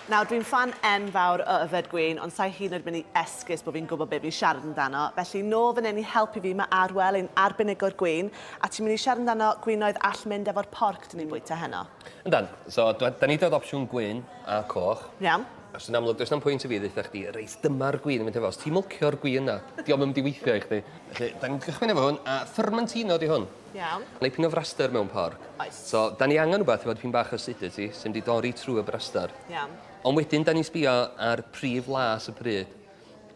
Nawr, dwi'n ffan enfawr o yfed gwin, ond sa'i hyd yn oed mynd i esgus bod fi'n gwybod be fi'n siarad amdano. Felly, nôl fan hyn i helpu fi, mae Arwel, ein arbenigwr gwin, a ti'n mynd i siarad amdano gwinoedd all mynd efo'r porc dyn ni'n bwyta heno. Yndan. So, dw- 'dan ni 'di rhoi'r opsiwn gwyn a coch. Iawn. Achos yn amlwg, does na'm pwynt i fi ddeutha chdi, reit, dyma'r gwin i fynd hefo. Os ti'n mwlcio'r gwin 'na, 'di o'm yn mynd i weithio i chdi. Felly, 'dan ni'n cychwyn efo hwn, a fermentino 'di hwn. Iawn. Dipyn o fraster mewn porc. Oes. So, da ni angen rhywbeth efo dipyn bach o acidity sy'n mynd i dorri trwy y braster. Iawn. Ond wedyn, da ni'n sbio ar prif las y pryd.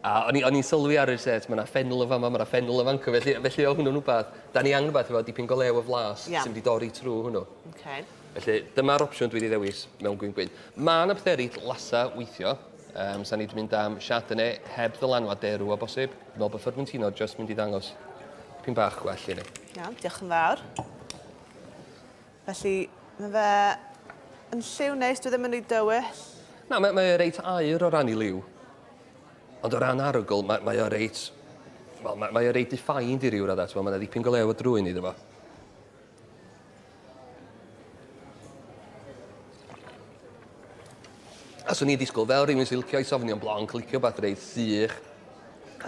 A o'n i, o'n i'n sylwi ar yr set, mae yna ffenl yn fama, mae yna ffenl yn fanco, felly, felly o hwnnw'n rhywbeth, da ni angen rhywbeth efo dipyn go lew o flas Iawn. sy'n mynd i dorri trwy hwnnw. Okay. Felly, dyma'r opsiwn dwi wedi ddewis mewn gwyn gwyn. Mae yna pethau eraill lasa weithio. Um, Sa'n ni wedi mynd am Chardonnay heb ddylanwad derw o bosib. Dwi me'wl bo' Formentino jyst mynd i ddangos dipyn bach gwell i ni. Iawn, diolch yn fawr. Felly, ma' fe yn lliw neis, dwi ddim yn rhy dywyll. Na, mae mae e reit aur o ran 'i liw. Ond o ran arogl mae mae o reit wel ma' mae o reit defined i ryw radda t'mo' ma' 'na ddipyn go lew o drwyn iddo fo. A swn i'n disgwyl fel rhywun sy'n licio i sofnio'n blonc, licio beth reit sych,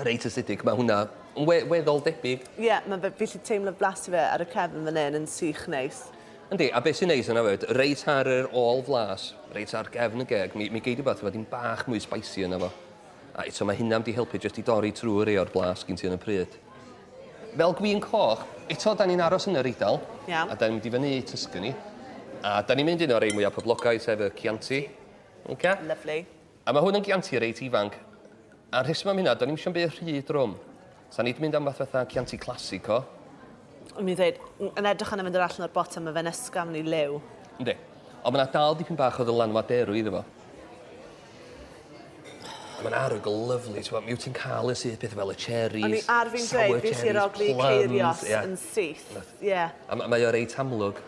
reit acidic, mae hwnna yn we weddol debyg. Ie, yeah, mae fe, fi lli teimlo blas i fe ar y cefn fan hyn yn sych neis. Yndi, a beth sy'n neis yna fyd, reit ar yr ôl flas, reit ar gefn y geg, mi, mi gei di beth efo dim bach mwy spicy yna fo. A eto mae hynna am di helpu jyst i dorri trwy rei o'r blas gin ti yn y pryd. Fel gwin coch, eto 'dan ni'n aros yn yr Eidal. Iawn. A 'dan ni'n mynd i fyny i Tuscany. A 'dan ni'n mynd i un o'r rei mwya poblogaidd, sef y Chianti. Oce? Lyfli. A ma' hwn yn Chianti reit ifanc. A'r rheswm am hynna, 'dan ni'm isio 'im byd rhy drwm. Sa ni 'di mynd am fath fatha Chianti Classico. O'n i'n ddeud, m- yn edrych arno fe dod allan o'r botel ma' fe'n ysgafn i liw. Yndi. Ond ma' 'na dal dipyn bach o ddylanwad derw iddo fo. A ma'n arogl lyfli t'mo' mi wt ti'n ca'l yn syth pethe fel y cherries... O'n i ar fin dweud fi isie roi ceirios yn syth. Ie. A ma' mae o reit amlwg.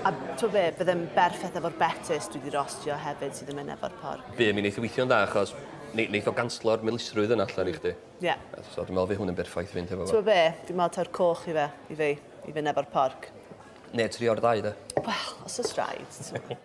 A t'o' be' bydd e'n berffeth efo'r betys dwi 'di rostio hefyd sydd yn myn' efo'r porc. By' mi neith o weithio'n dda achos ne- neith o ganslo'r milisrwydd yna allan i chdi. Ie. A so dwi me'wl fy' hwn yn berffaith i fynd hefo fo. T'mo' be' dwi me'wl taw'r coch i fe i fi i fyn' efo'r porc. Ne' trio'r ddau 'de? Wel os o's raid t'mo'.